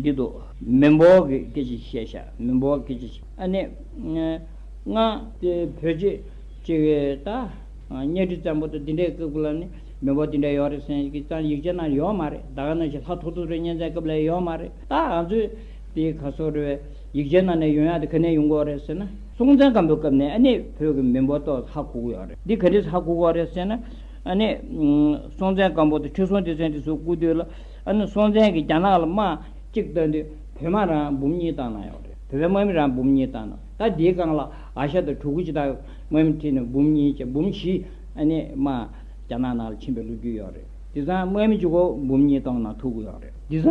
གྱི་འདུག། མི་འབོར་གྱི་སྐད་ཆ་བཤད་བཤད་མི་འབོར་སྐད་ཆ་བཤད་ཨ་ནི། ང། བོད་སྤྱི་སྤྱི་བའི་ད། གཉའ་ཁྲི་བཙན་པོ་ད་འདི་འདྲའི་སྐབས་ལ་ནི་མི་འབོར་འདི་འདྲ་ཡོད་རེད་སེམས་ཀྱི་ཙང་ཡིག་ཆ་ན་ཡོད་མ་རེད་ད་ག་ནང་བཞིན་ལྷ་ཐུག་ཐུག་རེད་གཉན་ཚད་སྐབས་ལ་ཡོད་མ་རེད་ད་ང་ཚོའི་དེ་ག་སོ་རེད་བས་ཡིག་ཆའི་ནང་ནས་ཡོད་ཡ་དེ་ག་ནས་ཡོང་གོ་རེད་ཟེར་ན་སྲོང་བཙན་སྒམ་པོའི་སྐབས་ནས་ཨ་ནི་བོད་ཀྱི་མི་འབོར་ཏོག་ཧ་གོ་གི་ཡོད་རེད་འདི་ག་འདྲའི་ཧ་གོ་གོ་རེད་ཟེར་ན་ཨ་ནི། སྲོང་བཙན་སྒམ་པོ་ད་ཁྲི་སྲོང་ལྡེ་བཙན་དེ་ཚོའི་སྐུ་དུས་ལ། ཨ་ནུ་སྲོང་བཙན་གྱིས་རྒྱ་ནག་ལ་དམག་གཅིག་བཏོན་དུས་བོད་དམག་རང་འབུམ་གཉིས་བཏང་གནང་ཡོད་རེད་བོད་པའི་དམག་མི་རང་འབུམ་གཉིས་བཏང་གནང་ད་འདིའི་སྒང་ལ་ཨ་ཤ་དང་ཕྲུ་གུ་སྤྱི་དག་དམག་མི་ཁྲིད་ནས་འབུམ་གཉིས་བཅས་འབུམ་བཞི་ཨ་ནི་དམག་རྒྱ་ནག་ནང་ལ་ཕྱིན་པའི་ལོ་རྒྱུས་ཡོད་རེད་དེ་སང་དམག་མི་བཅུ་གོ་འབུམ་གཉིས་བཏང་གནང་ཐུག་གི་ཡོད་རེད་དེ་སང་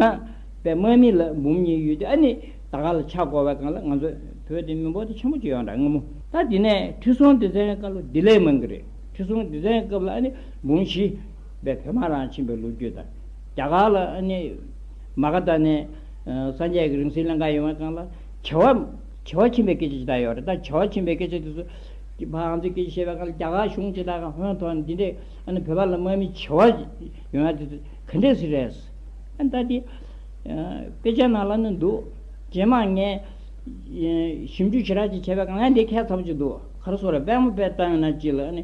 བའི་དམག་མི་ལ་འབུམ་གཉིས་ཡོད་དུས་ཨ་ནི་ད་ག་ལ་ཆག་གོ་བའི་སྒང་ལ་ང་ཚོ་བོད་དེ་མི་འབོར་དེ་ཆེན་པོ་གཅིག་ཡོད་འདྲ་ངོ་མོ། ད་འདི་ནས་ཁྲི་སྲོང་ལྡེ་བཙན་སྐབས་ལ་འདི་ལས་མང་གི་རེད་ཁྲི་སྲོང་ལྡེ་བཙན་སྐབས་ལ་ཨ་ནི་འབུམ་བཞི། པའི་བོད་མ་རང་ཕྱིན་པའི་ལོ་རྒྱུས་དང། རྒྱ་གར་ལ་ནི། མ་ག་དྷ་ནས། སངས་རྒྱས་ཀྱི་རིང་སྲེལ་གླིང་ག་ཡོང་བའི་སྐབས་ལ། བྱེ་བ། བྱེ་བ་ཕྱིན་པའི་སྐད་ཆ་ཇི་ལྟར་ཡོད་རེད་ད། བྱེ་བ་ཕྱིན་པའི་སྐད་ཆ་དེ་ཚོ། ཀྱི་བ་འང་ཚོའི་སྐད་ཆ་བཤད་པའི་སྐབས་ལ་རྒྱ་གར་གཞུང་དེ་དག་གི་ཧོན་ཐོག་ནས་འདི་འདྲའི། ཨ་ནི་བོད་པ་ལ་དམག་མི་བྱེ་བ། ཡོང་ཡ་དེ་ཚོ་ག་འདྲའི་ཟིག་རེད། ཨ་ནི་ད་དེ། དཔེ་ཆ་ནང་ལ་ནི་འདུག། རྗེས་མ་ངས། ཞིབ་འཇུག་ཇི་རག་ཅིག་བྱས་པའི་སྐབས་ང་འདི་གས་ཚར་བ་ཅིག་འདུག་ག་རེ་སོ་རེད་དཔལ་མོ་དཔལ་བཏང་ཡོད་ན་ཅིག་ལ་ཨ་ནི།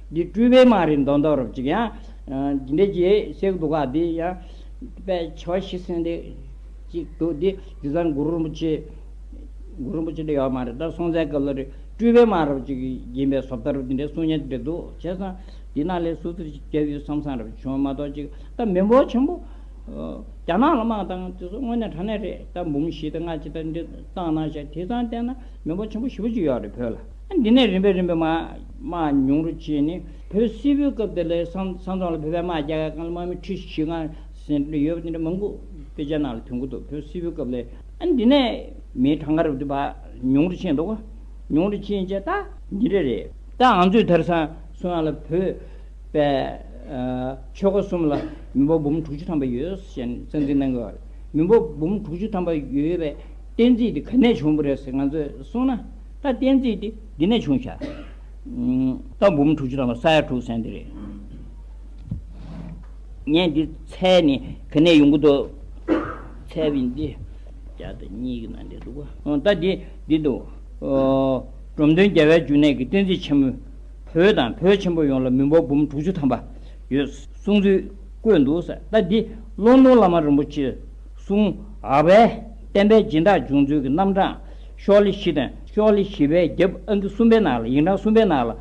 འདི་སྤྲུལ་པའི་མ་རིག་མདོ་མདོ་རབ་ཅིག་ཡང། སྦྱིན་འབྲས་ཀྱིས་གཤེགས་འདུག་ག་འདི་ཡང། དཔལ་ཆེ་བ་ཤི་གསོན་འདི་ཅིག་འདུག་འདི། རྒྱུ་བཟང་གུ་རུ་རིན་པོ་ཆེ། གུ་རུ་རིན་པོ་ཆེ་འདི་ཡོད་མ་རེད་ད་སྲོང་བཙན་སྐབས་ལ་རེད། སྤྲུལ་པའི་མ་རབ་ཅིག་ཡིན་པས་ཟོབ་ལྟར་འདི་འདྲའི་གསུང་སྙན་འདྲེ་འདུག་བྱས་སམ། འདི་ནག་ལས་སུ་ཚུར་སྐྱབས་ཡུལ་བསམ་བསམ་རབ་བྱུང་མ་གཏོགས་ཅིག་ད་མི་འབོར་ཆེན་པོ། རྒྱ་ནག་ལ་དམག་བཏང་དེ་ཚོ་དངོས་གནས་དྲང་གནས་རེད་ད་འབུམ་བཞི་དང་ལྔ་ཅིག་ད་འདི་བཏང་གནང་བཞག་དེ་ཚང་བསྟན་ན་མི་འབོར་ཆེན་པོ་བཞི་པོ་ཅིག་ཡོད་རེད་བོད་ལ། འདི་ནས་རིམ་པས་རིམ་པས་དམག་ཉུང་རུ་ཕྱིན་ནས་བོད་སིལ་བུའི་སྐབས་དེ་ལས་ས་མཚམས་ལ་བོད་པའི་དམག་རྒྱ་གར་གང་ལ་དམག་མི་ཁྲི་བཞི་ལྔ་ཟེར་ཡོད་པ་དེ་འདྲ་མང་པོ་དཔེ་ཆ་ནང་ལ་ཐོན་ཀྱི་འདུག་བོད་སིལ་བུའི་སྐབས་ལས། འདི་ནས་མིའི་གྲངས་ཀར་དམག་ཉུང་རུ་ཕྱིན་འདུག་ཉུང་རུ་ཕྱིན་རྗེས་ད། འདི་འདྲ་རེད། ད་ང་ཚོས་དེར་ས་སུ་ཡང་ལ་བོད་པའི་ཆོལ་ཁ་གསུམ་ལ་མི་འབོར་འབུམ་དྲུག་ཅུ་ཐམ་པ་ཡོད་ཞེས་གསང་ཚིག་གནང་གི་ཡོད་རེད། མི་འབོར་འབུམ་དྲུག་ཅུ་ཐམ་པ་ཡོད་པའི་གཏན་ཚིགས་དེ་ག་ནས་བྱུང་བ་རེད་ཟེར་ང་ཚོས་གསུངས་ན། ད་གཏན་ཚིགས་དེ་འདི་ནས་བྱུང་བྱ། ད་འབུམ་དྲུག་ཅུ་དང་པོ་ས་ཡ་དྲུག་ཟན་དེ་རེད། ངས་འདི་ཚད་ནི་ག་ནས་ཡོང་གི་འདུག། ཚད་བི་འདི་བརྒྱ་དང་གཉིས་ཀྱི་ནང་འདི་འདུག་གོ། ད་འདི་འདི་འདུག། འབྲོམ་སྟོན་རྒྱལ་བའི་འབྱུང་གནས་ཀྱི་གཏན་ཚིགས་ཆེན་མོའི་བོད་དང་བོད་ཆེན་པོ་ཡོངས་ལ་མི་འབོར་འབུམ་དྲུག་ཅུ་ཐམ་པ་ཡོད་གསུངས་ཚུལ་བཀོད་འདུག་ད་འདི་ཀློང་སྟོང་བླ་མ་རིན་པོ་ཆེས། གསུམ། ཨ་བྷའི་བསྟན་པའི་སྦྱིན་བདག་འབྱུང་འཚོལ་གྱི་རྣམ་གྲངས། ཤོག་ལྷེ་བཞི་དང་ཤོག་ལྷེ་བཞི་པའི་རྒྱབ་ཨ་འགྱུར་གསུམ་པའི་ནང་ལ་ཡིག་འབྲང་གསུམ་པའི་ནང་ལ།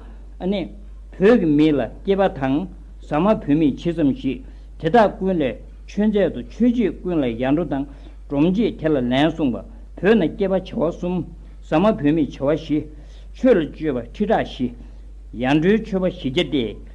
ཨ་ནི། བོད་ཀྱི་མི་ལ་སྐྱེས་པ་དང། ཟ་མ་བུད་མེད་ཇི་ཙམ་ཞིག། དེ་དག་ཀུན་ལས་ཆོས་མཛད་དུ་ཆོས་རྗེས་ཀུན་ལ་ཡར་འགྲོ་དང། སྒྲོམ་རྗེས་དེ་ལ་ལན་གསུངས་པ། བོད་ན་སྐྱེས་པ་བྱེ་བ་གསུམ། ཟ་མ་བུད་མེད་བྱེ་བ་བཞི། ཆོས་ལ་སྤྱོད་པ་ཁྲི་ཕྲག་བཞི། ཡར་འགྲོའི་ཆོས་པ་བཞི་བརྒྱ་སྟེ།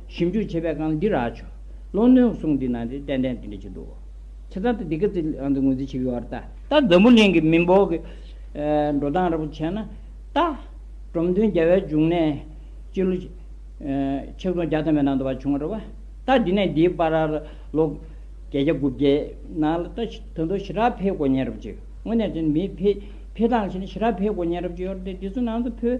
ཞིབ་འཇུག་བྱེད་པའི་སྒང་ལ་འདི་རག་ཆོག། ལོ་སྣོན་གསུང་འདི་ནང་དེ་ཏན་ཏན་དེ་འདྲ་བྱེད་འདུག་བོ། ཁྱེད་ཚང་དུ་འདི་ག་ཚིག་ལའང་དུ་ངོས་འཛིན་བྱེད་ཡོད་བར་ལྟ། ད་འཛམ་བུ་གླིང་གི་མི་འབོར་གྱི་འགྲོ་སྟངས་ར་བུ་བྱས་ན་ལྟ། འབྲོམ་སྟོན་རྒྱལ་བའི་འབྱུང་གནས་སྤྱི་ལོ། ཆིག་སྟོང་བརྒྱ་ཐམ་པའི་ནང་དུ་བ་བྱུང་བར་ར་བ་ལྟ། དེ་ནས་འདིའི་པར་ར་ར་ལོ། བརྒྱད་བརྒྱ་དགུ་བརྒྱའི་ནང་ལ་ལྟ། དོན་དུ་ཞི་དྲག་འཕེལ་སྒོ་ཉན་ར་བུ་བྱས་ཡོད། དངོས་གནས་བྱས་ན་མིའི་འཕེལ་སྟངས་ལ་བྱས་ན་ཞི་དྲག་འཕེལ་སྒོ་ཉན་ར་བུ་བྱས་ཡོད་ར་བསྟན། དེ་ཚོའི་ནང་དུ་བོད།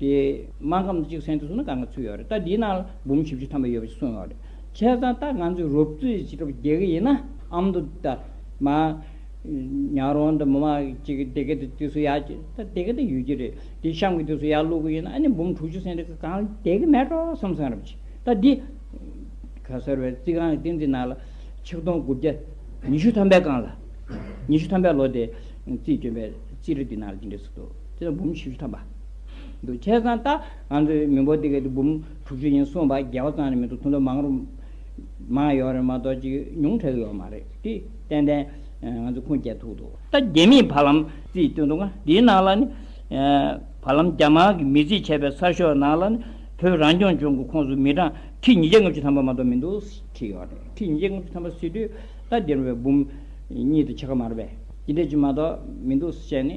དེ་མ་ཁམས་གཅིག་སེང་དུ་སོང་ན་ག་ང་ཚུད་ཡོད་རེད་ད་དེའི་ནང་ལ་འབུམ་བཞི་བཅུ་ཐམ་པ་ཡོད་པ་ཞིག་གསུངས་ཡོད་རེད་བྱས་ཙང་ད་ང་ཚོས་རོབ་ཙེ་ཞིག་ཅི་ལྟ་བུ་རྒྱལ་གི་ཡིན་ན་ཨམ་དུ་ད་མ་ཉག་རོང་དུ་མི་མ་གཅིག་གི་དེ་ག་དེ་དུས་སུ་ཡག་ཅིག་ད་དེ་ག་དེ་ཡོད་ཀྱི་རེད་དེ་གཤམ་གྱི་དུས་སུ་ཡག་ལུག་གི་ཡིན་ན་ཨ་ནི་འབུམ་དྲུག་ཅུ་སེང་རེ་ག་གང་དེ་ག་མེད་འགྲོ་བསམ་སོང་རེད་བྱས་ད་དེ་ག་ཟེར་བའི་རྩིག་ཁང་གི་སྟེང་དེའི་ནང་ལ་ཆིག་སྟོང་དགུ་བརྒྱ་ཉི་ཤུ་ཐམ་པའི་སྒང་ལ་ཉི་ཤུ་ཐམ་པའི་ལོ་དེ་རྩིས་བསྐྱོན་པའི་རྩིས་རི་དེའི་ནང་ལ་ཅི་འདྲའི་ཟུག་རྡུག། ཅེས་འབུམ་བཞི་བཅུ་ཐམ་པ་འདུག་ཁྱེད་ཚང་ལྟ་ང་ཚོའི་མི་འབོར་འདི་ག་དེ་འབུམ་དྲུག་ཅུ་ཡིན་གསུངས་པ་རྒྱལ་བ་ཙང་རེད་མི་འདུག་ཐུང་ཐུང་མང་རུང་མང་ཡོད་རེད་མ་གཏོགས་ཅིག་ཉུང་དྲག་ཡོད་མ་རེད་དེ་ཏན་ཏན་ང་ཚོ་ཁུངས་སྐྱེལ་ཐུག་འདུག། ད་རྒྱ་མིས་བར་ལམ་རྩིས་སྟོན་འདུག་ང་འདིའི་ནང་ལ་ནི་བར་ལམ་རྒྱ་དམར་གྱི་མི་རྩིས་བྱས་པའི་གསར་ཤོག་ནང་ལ་ནི་བོད་རང་སྐྱོང་ལྗོངས་ཀྱི་ཁོངས་སུ་མི་གྲངས་ཁྲི་ཉིས་བརྒྱ་ལྔ་བཅུ་ཐམ་པ་མ་གཏོགས་མི་འདུག་བྲིས་ཡོད་རེད་ཁྲི་ཉིས་བརྒྱ་ལྔ་བཅུ་ཐམ་པ་ཟེར་དུས་ད་འདིར་བའི་འབུམ་གཉིས་དང་ཕྱེད་ཀ་མ་རེད་པས་ཇི་འདྲས་ཅིག་མ་གཏོགས་མི་འདུག་བཤད་ནི།